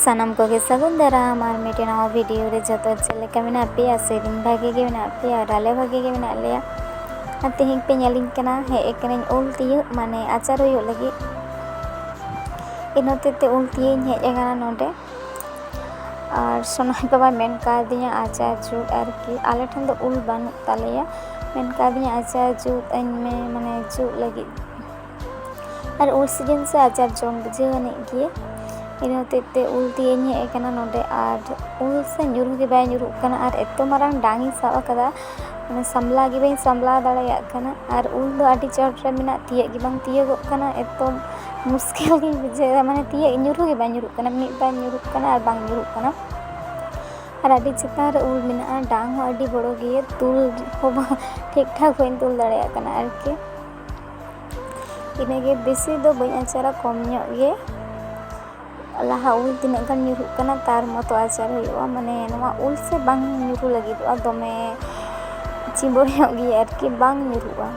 ᱥᱟᱱᱟᱢ ᱠᱚᱜᱮ ᱥᱟᱹᱜᱩᱱ ᱫᱟᱨᱟᱢ ᱟᱨ ᱢᱤᱫᱴᱮᱱ ᱱᱟᱣᱟ ᱵᱷᱤᱰᱤᱭᱳ ᱨᱮ ᱡᱚᱛᱚ ᱪᱮᱫ ᱞᱮᱠᱟ ᱢᱮᱱᱟᱜ ᱯᱮᱭᱟ ᱥᱮᱫᱤᱱ ᱵᱷᱟᱜᱮ ᱜᱮ ᱢᱮᱱᱟᱜ ᱯᱮᱭᱟ ᱟᱨ ᱟᱞᱮ ᱵᱷᱟᱜᱮ ᱜᱮ ᱢᱮᱱᱟᱜ ᱞᱮᱭᱟ ᱟᱨ ᱛᱮᱦᱮᱧ ᱯᱮ ᱧᱮᱞᱤᱧ ᱠᱟᱱᱟ ᱦᱮᱡ ᱟᱠᱟᱱᱟᱹᱧ ᱩᱞ ᱛᱤᱭᱳᱜ ᱢᱟᱱᱮ ᱟᱪᱟᱨ ᱦᱩᱭᱩᱜ ᱞᱟᱹᱜᱤᱫ ᱤᱱᱟᱹ ᱦᱚᱛᱮᱡ ᱛᱮ ᱩᱞ ᱛᱤᱭᱳᱜ ᱤᱧ ᱦᱮᱡ ᱟᱠᱟᱱᱟ ᱱᱚᱰᱮ ᱟᱨ ᱥᱚᱱᱟᱭ ᱵᱟᱵᱟ ᱢᱮᱱ ᱠᱟᱣᱫᱤᱧᱟ ᱟᱪᱟᱨ ᱡᱩᱛ ᱟᱨᱠᱤ ᱟᱞᱮ ᱴᱷᱮᱱ ᱫᱚ ᱩᱞ ᱵᱟᱹᱱᱩᱜ ᱛᱟᱞᱮᱭᱟ ᱢᱮᱱ ᱠᱟᱣᱫᱤᱧᱟ ᱟᱪᱟᱨ ᱡᱩᱛ ᱟᱹᱧ ᱢᱮ ᱢᱟᱱᱮ ᱡᱩᱛ ᱞᱟᱹᱜᱤᱫ ᱟᱨ ᱩᱞ ᱥᱤᱡᱤᱱ ᱥᱮ ᱟᱪᱟᱨ ᱡᱚᱢ ᱵᱩᱡᱷᱟᱹᱣ ᱟᱹᱱᱤᱡ ᱜᱮ ᱤᱱᱟᱹ ᱦᱚᱛᱮᱡ ᱛᱮ ᱩᱞ ᱛᱤᱭᱟᱹᱧ ᱦᱮᱡ ᱟᱠᱟᱱᱟ ᱱᱚᱰᱮ ᱟᱨ ᱩᱞ ᱥᱮ ᱧᱩᱨᱩ ᱜᱮ ᱵᱟᱭ ᱧᱩᱨᱩᱜ ᱠᱟᱱᱟ ᱟᱨ ᱮᱛᱚ ᱢᱟᱨᱟᱝ ᱰᱟᱝ ᱤᱧ ᱥᱟᱵ ᱟᱠᱟᱫᱟ ᱢᱟᱱᱮ ᱥᱟᱢᱞᱟᱣ ᱜᱮ ᱵᱟᱹᱧ ᱥᱟᱢᱞᱟᱣ ᱫᱟᱲᱮᱭᱟᱜ ᱠᱟᱱᱟ ᱟᱨ ᱩᱞ ᱫᱚ ᱟᱹᱰᱤ ᱪᱚᱴ ᱨᱮ ᱢᱮᱱᱟᱜ ᱛᱤᱭᱟᱹᱜ ᱜᱮ ᱵᱟᱝ ᱛᱤᱭᱟᱹᱜᱚᱜ ᱠᱟᱱᱟ ᱮᱛᱚ ᱢᱩᱥᱠᱤᱞ ᱜᱮᱧ ᱵᱩᱡᱷᱟᱹᱣᱮᱫᱟ ᱢᱟᱱᱮ ᱛᱤᱭᱟᱹᱜ ᱧᱩᱨᱩ ᱜᱮ ᱵᱟᱝ ᱧᱩᱨᱩᱜ ᱠᱟᱱᱟ ᱢᱤᱫ ᱵᱟᱨ ᱧᱩᱨᱩᱜ ᱠᱟᱱᱟ ᱟᱨ ᱵᱟᱝ ᱧᱩᱨᱩᱜ ᱠᱟᱱᱟ ᱟᱨ ᱟᱹᱰᱤ ᱪᱮᱛᱟᱱ ᱨᱮ ᱩᱞ ᱢᱮᱱᱟᱜᱼᱟ ᱰᱟᱝ ᱦᱚᱸ ᱟᱹᱰᱤ ᱵᱚᱲᱚ ᱜᱮᱭᱟ ᱛᱩᱞ ᱦᱚᱸ ᱵᱟᱝ ᱴᱷᱤᱠ ᱴᱷᱟᱠ ᱵᱟᱹᱧ ᱛᱩᱞ ᱫᱟᱲᱮᱭᱟᱜ ᱠᱟᱱᱟ ᱟᱨᱠᱤ ᱤᱱᱟᱹᱜᱮ ᱵᱮᱥᱤ ᱫᱚ ᱵᱟᱹᱧ ᱟᱪᱟᱨᱟ ᱠᱚᱢ ᱧᱚᱜ ᱜᱮ ᱞᱟᱦᱟ ᱩᱞ ᱛᱤᱱᱟᱹᱜ ᱜᱟᱱ ᱧᱩᱨᱦᱩᱜ ᱠᱟᱱᱟ ᱛᱟᱨ ᱢᱚᱛᱚ ᱟᱪᱟᱨ ᱦᱩᱭᱩᱜᱼᱟ ᱢᱟᱱᱮ ᱱᱚᱣᱟ ᱩᱞ ᱥᱮ ᱵᱟᱝ ᱧᱩᱨᱦᱩ ᱞᱟᱹᱜᱤᱫᱚᱜᱼᱟ ᱫᱚᱢᱮ ᱪᱤᱵᱚᱲ ᱧᱚᱜ ᱜᱮᱭᱟ ᱟᱨᱠᱤ ᱵᱟᱝ ᱧᱩᱨᱦᱩᱜᱼᱟ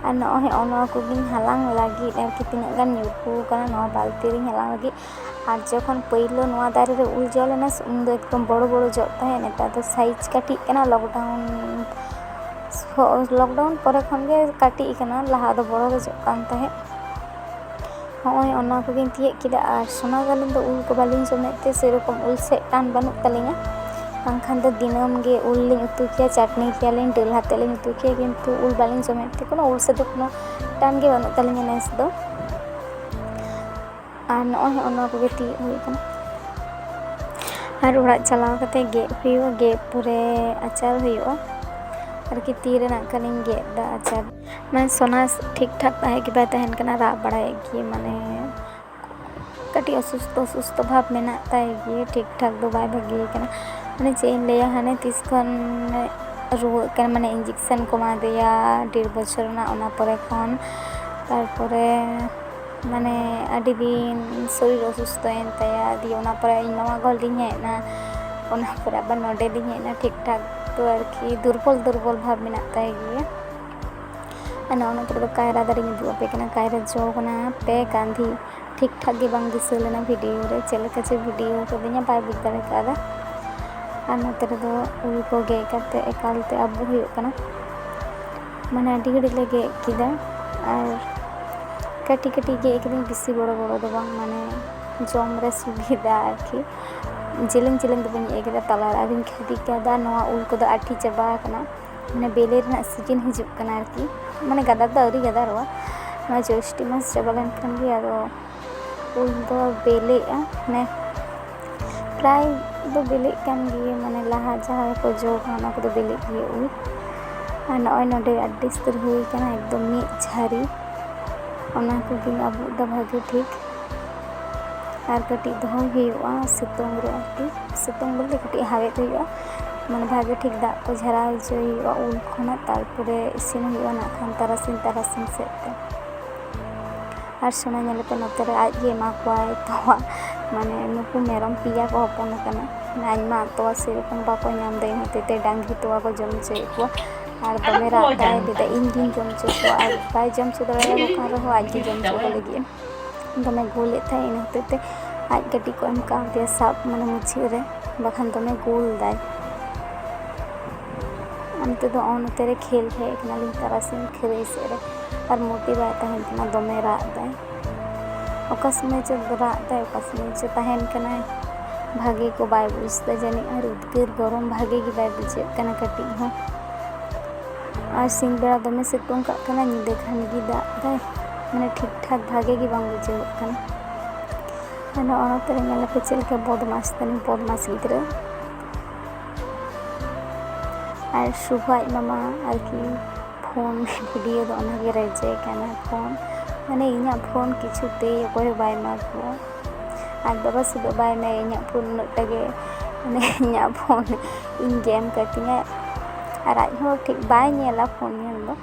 ᱟᱨ ᱱᱚᱜᱼᱚᱭ ᱱᱚᱣᱟ ᱠᱚᱜᱮᱧ ᱦᱟᱞᱟᱝ ᱞᱟᱹᱜᱤᱫ ᱟᱨᱠᱤ ᱛᱤᱱᱟᱹᱜ ᱜᱟᱱ ᱧᱩᱨᱦᱩ ᱠᱟᱱᱟ ᱱᱚᱣᱟ ᱵᱟᱹᱞᱛᱤ ᱨᱤᱧ ᱦᱟᱞᱟᱝ ᱞᱟᱹᱜᱤᱫ ᱟᱨ ᱡᱚᱠᱷᱚᱱ ᱯᱳᱭᱞᱳ ᱱᱚᱣᱟ ᱫᱟᱨᱮ ᱨᱮ ᱩᱞ ᱡᱚ ᱞᱮᱱᱟ ᱥᱮ ᱩᱱᱫᱚ ᱮᱠᱫᱚᱢ ᱵᱚᱲᱚ ᱵᱚᱲᱚ ᱡᱚᱜ ᱛᱟᱦᱮᱸᱫ ᱱᱮᱛᱟᱨ ᱫᱚ ᱥᱟᱭᱤᱡᱽ ᱠᱟᱹᱴᱤᱡ ᱠᱟᱱᱟ ᱞᱚᱠᱰᱟᱣᱩᱱ ᱞᱚᱠᱰᱟᱣᱩᱱ ᱯᱚᱨᱮ ᱠᱷᱚᱱ ᱜᱮ ᱠᱟᱹᱴᱤᱡ ᱠᱟᱱᱟ ᱞᱟᱦᱟ ᱫᱚ ᱵᱚᱲᱚ ᱜᱮ ᱡᱚᱜ ᱠᱟᱱ ᱛᱟᱦᱮᱸᱫ ᱦᱚᱸᱜᱼᱚᱭ ᱚᱱᱟ ᱠᱚᱜᱮᱧ ᱛᱤᱭᱳᱜ ᱠᱮᱫᱟ ᱟᱨ ᱥᱚᱱᱟ ᱜᱟᱹᱞᱤᱧ ᱫᱚ ᱩᱞ ᱠᱚ ᱵᱟᱹᱞᱤᱧ ᱡᱚᱢᱮᱫ ᱛᱮ ᱥᱮᱨᱚᱠᱚᱢ ᱩᱞ ᱥᱮᱫ ᱴᱟᱱ ᱵᱟᱹᱱᱩᱜ ᱛᱟᱹᱞᱤᱧᱟ ᱵᱟᱝᱠᱷᱟᱱ ᱫᱚ ᱫᱤᱱᱟᱹᱢ ᱜᱮ ᱩᱞ ᱞᱤᱧ ᱩᱛᱩ ᱠᱮᱭᱟ ᱪᱟᱹᱴᱱᱤ ᱠᱮᱭᱟᱞᱤᱧ ᱫᱟᱹᱞ ᱟᱛᱮᱫ ᱞᱤᱧ ᱩᱛᱩ ᱠᱮᱭᱟ ᱠᱤᱱᱛᱩ ᱩᱞ ᱵᱟᱹᱞᱤᱧ ᱡᱚᱢᱮᱫ ᱛᱮ ᱠᱳᱱᱳ ᱩᱞ ᱥᱮᱫ ᱫᱚ ᱠᱳᱱᱳ ᱴᱟᱱ ᱜᱮ ᱵᱟᱹᱱᱩᱜ ᱛᱟᱹᱞᱤᱧᱟ ᱱᱮᱥ ᱫᱚ ᱟᱨ ᱱᱚᱜᱼᱚᱭ ᱦᱚᱸᱜᱼᱚ ᱱᱚᱣᱟ ᱠᱚᱜᱮ ᱛᱤᱭᱳᱜ ᱦᱩᱭ ᱠᱟᱱᱟ ᱟᱨ ᱚᱲᱟᱜ ᱪᱟᱞᱟᱣ ᱠᱟᱛᱮ ᱜᱮᱫ ᱦᱩᱭᱩᱜᱼᱟ ᱜᱮᱫ ᱯᱚᱨᱮ ᱟᱪᱟᱨ ᱦᱩᱭᱩᱜᱼᱟ ᱟᱨᱠᱤ ᱛᱤ ᱨᱮᱱᱟᱜ ᱠᱟᱹᱱᱤᱧ ᱜᱮᱫ ᱫᱟ ᱟᱪᱟᱨ ᱢᱟᱱᱮ ᱥᱚᱱᱟ ᱴᱷᱤᱠ ᱴᱷᱟᱠ ᱛᱟᱦᱮᱸ ᱜᱮ ᱵᱟᱭ ᱛᱟᱦᱮᱱ ᱠᱟᱱᱟ ᱨᱟᱜ ᱵᱟᱲᱟᱭᱮᱫ ᱜᱮ ᱢᱟᱱᱮ ᱠᱟᱹᱴᱤᱡ ᱚᱥᱩᱥᱛᱷᱚ ᱚᱥᱩᱥᱛᱷᱚ ᱵᱷᱟᱵᱽ ᱢᱮᱱᱟᱜ ᱛᱟᱭ ᱜᱮ ᱴᱷᱤᱠ ᱴᱷᱟᱠ ᱫᱚ ᱵᱟᱭ ᱵᱷᱟᱹᱜᱤ ᱠᱟᱱᱟ ᱢᱟᱱᱮ ᱪᱮᱫ ᱤᱧ ᱞᱟᱹᱭᱟ ᱦᱟᱱᱮ ᱛᱤᱥ ᱠᱷᱚᱱ ᱨᱩᱣᱟᱹᱜ ᱠᱟᱱᱟ ᱢᱟᱱᱮ ᱤᱧᱡᱮᱠᱥᱮᱱ ᱠᱚ ᱮᱢᱟᱫᱮᱭᱟ ᱰᱮᱲ ᱵᱚᱪᱷᱚᱨ ᱨᱮᱱᱟᱜ ᱚᱱᱟ ᱯᱚᱨᱮ ᱠᱷᱚᱱ ᱛᱟᱨᱯᱚᱨᱮ ᱢᱟᱱᱮ ᱟᱹᱰᱤ ᱫᱤᱱ ᱥᱚᱨᱤᱨ ᱚᱥᱩᱥᱛᱷᱚᱭᱮᱱ ᱛᱟᱭᱟ ᱫᱤᱭᱮ ᱚᱱᱟ ᱯᱚᱨᱮ ᱤᱧ ᱢᱟᱢᱟ ᱜᱷᱚᱨ ᱞᱤᱧ ᱦᱮᱡ ᱮᱱᱟ ᱚᱱᱟ ᱯᱚᱨᱮ ᱟᱵᱟᱨ ᱱᱚᱰᱮ ᱞᱤᱧ ᱦᱮᱡ ᱮᱱᱟ ᱴᱷᱤᱠ ᱴᱷᱟᱠ ᱛᱚ ᱟᱨᱠᱤ ᱫᱩᱨᱵᱚᱞ ᱫᱩᱨᱵᱚᱞ ᱵᱷᱟᱵᱽ ᱢᱮᱱᱟᱜ ᱛᱟᱭ ᱜᱮᱭᱟ ᱟᱨ ᱱᱚᱜᱼᱚ ᱱᱚᱛᱮ ᱨᱮᱫᱚ ᱠᱟᱭᱨᱟ ᱫᱟᱨᱮᱧ ᱩᱫᱩᱜ ᱟᱯᱮ ᱠᱟᱱᱟ ᱠᱟᱭᱨᱟ ᱡᱚ ᱠᱟᱱᱟ ᱯᱮ ᱠᱟᱸᱫᱷᱤ ᱴᱷᱤᱠ ᱴᱷᱟᱠ ᱜᱮ ᱵᱟᱝ ᱫᱤᱥᱟᱹ ᱞᱮᱱᱟ ᱵᱷᱤᱰᱤᱭᱳ ᱨᱮ ᱪᱮᱫ ᱞᱮᱠᱟ ᱪᱚ ᱵᱷᱤᱰᱤᱭᱳ ᱠᱟᱹᱫᱤᱧᱟ ᱵᱟᱭ ᱵᱩᱡᱽ ᱫᱟᱲᱮ ᱠᱟᱣᱫᱟ ᱟᱨ ᱱᱚᱛᱮ ᱨᱮᱫᱚ ᱩᱞ ᱠᱚ ᱜᱮᱫ ᱠᱟᱛᱮ ᱮᱠᱟᱞᱛᱮ ᱟᱵᱚᱜ ᱦᱩᱭᱩᱜ ᱠᱟᱱᱟ ᱢᱟᱱᱮ ᱟᱹᱰᱤ ᱜᱷᱟᱹᱲᱤᱡ ᱞᱮ ᱜᱮᱫ ᱠᱮᱫᱟ ᱟᱨ ᱠᱟᱹᱴᱤᱡ ᱠᱟᱹᱴᱤᱡ ᱜᱮᱫ ᱠᱤᱫᱟᱹᱧ ᱵᱤᱥᱤ ᱵᱚᱲᱚ ᱵᱚᱲᱚ ᱫᱚ ᱵᱟᱝ ᱢᱟᱱᱮ ᱡᱚᱢ ᱨᱮ ᱥᱩᱵᱤᱫᱷᱟ ᱟᱨᱠᱤ ᱡᱮᱞᱮᱧ ᱡᱮᱞᱮᱧ ᱫᱚ ᱵᱟᱹᱧ ᱜᱮᱫ ᱠᱟᱫᱟ ᱛᱟᱞᱟ ᱨᱮ ᱟᱫᱚᱧ ᱠᱷᱟᱫᱤ ᱠᱟᱫᱟ ᱱᱚᱣᱟ ᱩᱞ ᱠᱚᱫᱚ ᱟᱹᱰᱤ ᱪᱟᱵᱟ ᱠᱟᱱᱟ ᱢᱟᱱᱮ ᱵᱮᱞᱮ ᱨᱮᱱᱟᱜ ᱥᱤᱡᱤᱱ ᱦᱤᱡᱩᱜ ᱠᱟᱱᱟ ᱟᱨᱠᱤ ᱢᱟᱱᱮ ᱜᱟᱫᱟᱨ ᱫᱚ ᱟᱹᱣᱨᱤ ᱜᱟᱫᱟᱨᱚᱜᱼᱟ ᱱᱚᱣᱟ ᱡᱳᱥᱴᱤ ᱢᱟᱥ ᱪᱟᱵᱟ ᱞᱮᱱᱠᱷᱟᱱ ᱜᱮ ᱟᱫᱚ ᱩᱞ ᱫᱚ ᱵᱤᱞᱤᱜᱼᱟ ᱢᱟᱱᱮ ᱯᱨᱟᱭ ᱫᱚ ᱵᱤᱞᱤᱜ ᱠᱟᱱ ᱜᱮᱭᱟ ᱢᱟᱱᱮ ᱞᱟᱦᱟ ᱡᱟᱦᱟᱸ ᱠᱚ ᱡᱚ ᱠᱟᱱᱟ ᱚᱱᱟ ᱠᱚᱫᱚ ᱵᱤᱞᱤᱜ ᱜᱮᱭᱟ ᱩᱞ ᱟᱨ ᱱᱚᱜᱼᱚᱭ ᱱᱚᱰᱮ ᱟᱹᱰᱤ ᱩᱥᱛᱟᱹᱨ ᱦᱩᱭ ᱠᱟᱱᱟ ᱮᱠᱫᱚᱢ ᱢᱤᱫ ᱡᱷᱟᱹᱨᱤ ᱚᱱᱟ ᱠᱚᱜᱮᱧ ᱟᱵᱩᱜ ᱮᱫᱟ ᱵᱷᱟᱹᱜᱤ ᱴᱷᱤᱠ ᱟᱨ ᱠᱟᱹᱴᱤᱡ ᱫᱚᱦᱚ ᱦᱩᱭᱩᱜᱼᱟ ᱥᱤᱛᱩᱝ ᱨᱮ ᱟᱨᱠᱤ ᱥᱤᱛᱩᱝ ᱵᱚᱞᱛᱮ ᱠᱟᱹᱴᱤᱡ ᱦᱟᱣᱮᱫ ᱦᱩᱭᱩᱜᱼᱟ ᱢᱟᱱᱮ ᱵᱷᱟᱹᱜᱤ ᱴᱷᱤᱠ ᱫᱟᱜ ᱠᱚ ᱡᱷᱟᱨᱟᱣ ᱦᱚᱪᱚᱭ ᱦᱩᱭᱩᱜᱼᱟ ᱩᱞ ᱠᱷᱚᱱᱟᱜ ᱛᱟᱨᱯᱚᱨᱮ ᱤᱥᱤᱱ ᱦᱩᱭᱩᱜᱼᱟ ᱱᱟᱜ ᱠᱷᱟᱱ ᱛᱟᱨᱟᱥᱤᱧ ᱛᱟᱨᱟᱥᱤᱧ ᱥᱮᱫ ᱛᱮ ᱟᱨ ᱥᱚᱱᱟ ᱧᱮᱞ ᱠᱟᱛᱮ ᱱᱚᱛᱮ ᱨᱮ ᱟᱡ ᱜᱮ ᱮᱢᱟ ᱠᱚᱣᱟᱭ ᱛᱚᱣᱟ ᱢᱟᱱᱮ ᱱᱩᱠᱩ ᱢᱮᱨᱚᱢ ᱯᱮᱭᱟ ᱠᱚ ᱦᱚᱯᱚᱱ ᱟᱠᱟᱱᱟ ᱟᱡ ᱢᱟ ᱛᱚᱣᱟ ᱥᱮ ᱨᱚᱠᱚᱢ ᱵᱟᱠᱚ ᱧᱟᱢ ᱮᱫᱟ ᱤᱱᱟᱹ ᱦᱚᱛᱮᱡ ᱛᱮ ᱰᱟᱝᱨᱤ ᱛᱚᱣᱟ ᱠᱚ ᱡᱚᱢ ᱚᱪᱚᱭᱮᱫ ᱠᱚᱣᱟ ᱟᱨ ᱫᱚᱢᱮ ᱨᱟᱜ ᱮᱫᱟᱭ ᱞᱟᱹᱭ ᱮᱫᱟᱭ ᱤᱧ ᱜᱮᱧ ᱡᱚᱢ ᱚᱪᱚ ᱠᱚᱣᱟ ᱟᱨ ᱵᱟᱭ ᱡᱚᱢ ᱚᱪᱚ ᱫᱟᱲᱮᱭᱟᱠᱚ ᱠᱟᱱ ᱨᱮᱦᱚᱸ ᱟᱡ ᱜᱮ ᱡᱚᱢ ᱚᱪᱚ ᱠᱚ ᱞᱟᱹᱜᱤᱫ ᱮ ᱫᱚᱢᱮ ᱜᱳᱞᱮᱫ ᱛᱟᱦᱮᱸᱫ ᱤᱱᱟᱹ ᱦᱚᱛᱮᱡ ᱛᱮ ᱟᱡ ᱜᱟᱹᱰᱤ ᱠᱚ ᱮᱢ ᱠᱟᱣᱫᱮᱭᱟ ᱥᱟᱵ ᱢᱟᱱᱮ ᱢᱩᱪᱟᱹᱫ ᱨᱮ ᱵᱟᱠᱷᱟᱱ ᱫᱚᱢᱮ ᱜᱳᱞ ᱮᱫᱟᱭ ᱚᱱᱛᱮ ᱫᱚ ᱚᱱᱛᱮ ᱨᱮ ᱠᱷᱮᱞ ᱦᱮᱡ ᱠᱟᱱᱟᱞᱤᱧ ᱛᱟᱨᱟᱥᱤᱧ ᱠᱷᱟᱹᱨᱟᱹᱭ ᱥᱮᱫ ᱨᱮ ᱟᱨ ᱢᱳᱴᱤ ᱵᱟᱭ ᱛᱟᱦᱮᱱ ᱠᱟᱱᱟ ᱫᱚᱢᱮ ᱨᱟᱜ ᱫᱟᱭ ᱚᱠᱟ ᱥᱚᱢᱚᱭ ᱪᱚ ᱨᱟᱜ ᱫᱟᱭ ᱚᱠᱟ ᱥᱚᱢᱚᱭ ᱪᱚ ᱛᱟᱦᱮᱱ ᱠᱟᱱᱟᱭ ᱵᱷᱟᱜᱮ ᱠᱚ ᱵᱟᱭ ᱵᱩᱡᱽ ᱮᱫᱟ ᱡᱟᱹᱱᱤᱡ ᱟᱨ ᱩᱫᱽᱜᱟᱹᱨ ᱜᱚᱨᱚᱢ ᱵᱷᱟᱜᱮ ᱜᱮ ᱵᱟᱭ ᱵᱩᱡᱷᱟᱹᱜ ᱠᱟᱱᱟ ᱠᱟᱹᱴᱤᱡ ᱦᱚᱸ ᱟᱨ ᱥᱤᱧ ᱵᱮᱲᱟ ᱫᱚᱢᱮ ᱥᱤᱛᱩᱝ ᱠᱟᱜ ᱠᱟᱱᱟ ᱧᱤᱫᱟᱹ ᱠᱷᱟᱱ ᱜᱮ ᱫᱟᱜ ᱫᱟᱭ ᱢᱟᱱᱮ ᱴᱷᱤᱠ ᱴᱷᱟᱠ ᱵᱷᱟᱜᱮ ᱜᱮ ᱵᱟᱝ ᱵᱩᱡᱷᱟᱹᱜᱚᱜ ᱠᱟᱱᱟ ᱟᱫᱚ ᱚᱱᱟᱛᱮ ᱧᱮᱞ ᱞᱮᱯᱮ ᱪᱮᱫ ᱞᱮᱠᱟ ᱵᱚᱫᱢᱟᱥ ᱛᱟᱹᱞᱤᱧ ᱵᱚᱫᱢᱟᱥ ᱜᱤᱫᱽᱨᱟᱹ ᱟᱨ ᱥᱩᱵᱷᱟ ᱟᱡ ᱢᱟᱢᱟ ᱟᱨᱠᱤ ᱯᱷᱳᱱ ᱵᱷᱤᱰᱤᱭᱳ ᱫᱚ ᱚᱱᱟᱜᱮ ᱨᱮᱡᱮ ᱠᱟᱱᱟ ᱯᱷᱳᱱ ᱢᱟᱱᱮ ᱤᱧᱟᱹᱜ ᱯᱷᱳᱱ ᱠᱤᱪᱷᱩ ᱛᱮ ᱚᱠᱚᱭ ᱦᱚᱸ ᱵᱟᱭ ᱮᱢᱟ ᱠᱚᱣᱟ ᱟᱡ ᱵᱟᱵᱟ ᱥᱩᱫᱷᱩ ᱵᱟᱭ ᱮᱢᱟᱭᱟ ᱤᱧᱟᱹᱜ ᱯᱷᱳᱱ ᱩᱱᱟᱹᱜ ᱴᱟ ᱜᱮ ᱢᱟᱱᱮ ᱤᱧᱟᱹᱜ ᱯᱷᱳᱱ ᱤᱧ ᱜᱮ ᱮᱢ ᱠᱟᱹᱛᱤᱧᱟᱭ ᱟᱨ ᱟᱡ ᱦᱚᱸ ᱴᱷᱤᱠ ᱵᱟᱭ ᱧᱮᱞᱟ ᱯᱷᱳᱱ ᱧᱮᱞ ᱫᱚ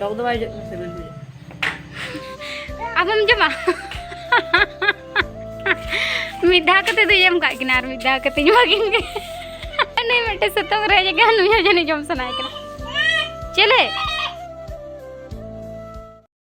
ᱴᱚᱠ ᱫᱚ ᱵᱟᱭ ᱦᱤᱡᱩᱜ ᱠᱟᱱᱟ ᱥᱤᱵᱤᱞ ᱵᱩᱡᱷᱟᱹᱜ ᱟᱵᱚᱢ ᱡᱚᱢᱟ ᱢᱤᱫ ᱫᱷᱟᱣ ᱠᱟᱛᱮ ᱫᱚ ᱮᱢ ᱠᱟᱜ ᱠᱤᱱᱟ ᱟᱨ ᱢᱤᱫ ᱫᱷᱟᱣ ᱠᱟᱛᱮ ᱧᱩᱣᱟ ᱠᱤᱱ ᱜᱮ ᱱᱩᱭ ᱢᱤᱫᱴᱮᱱ ᱥᱩᱛᱟᱹᱢ ᱨᱮ ᱡᱟᱭᱜᱟ ᱱᱩᱭ ᱦᱚᱸ ᱡᱟᱹᱱᱤᱡ ᱡᱚᱢ ᱥᱟᱱᱟᱭᱮ ᱠᱟᱱᱟ ᱪᱮᱞᱮ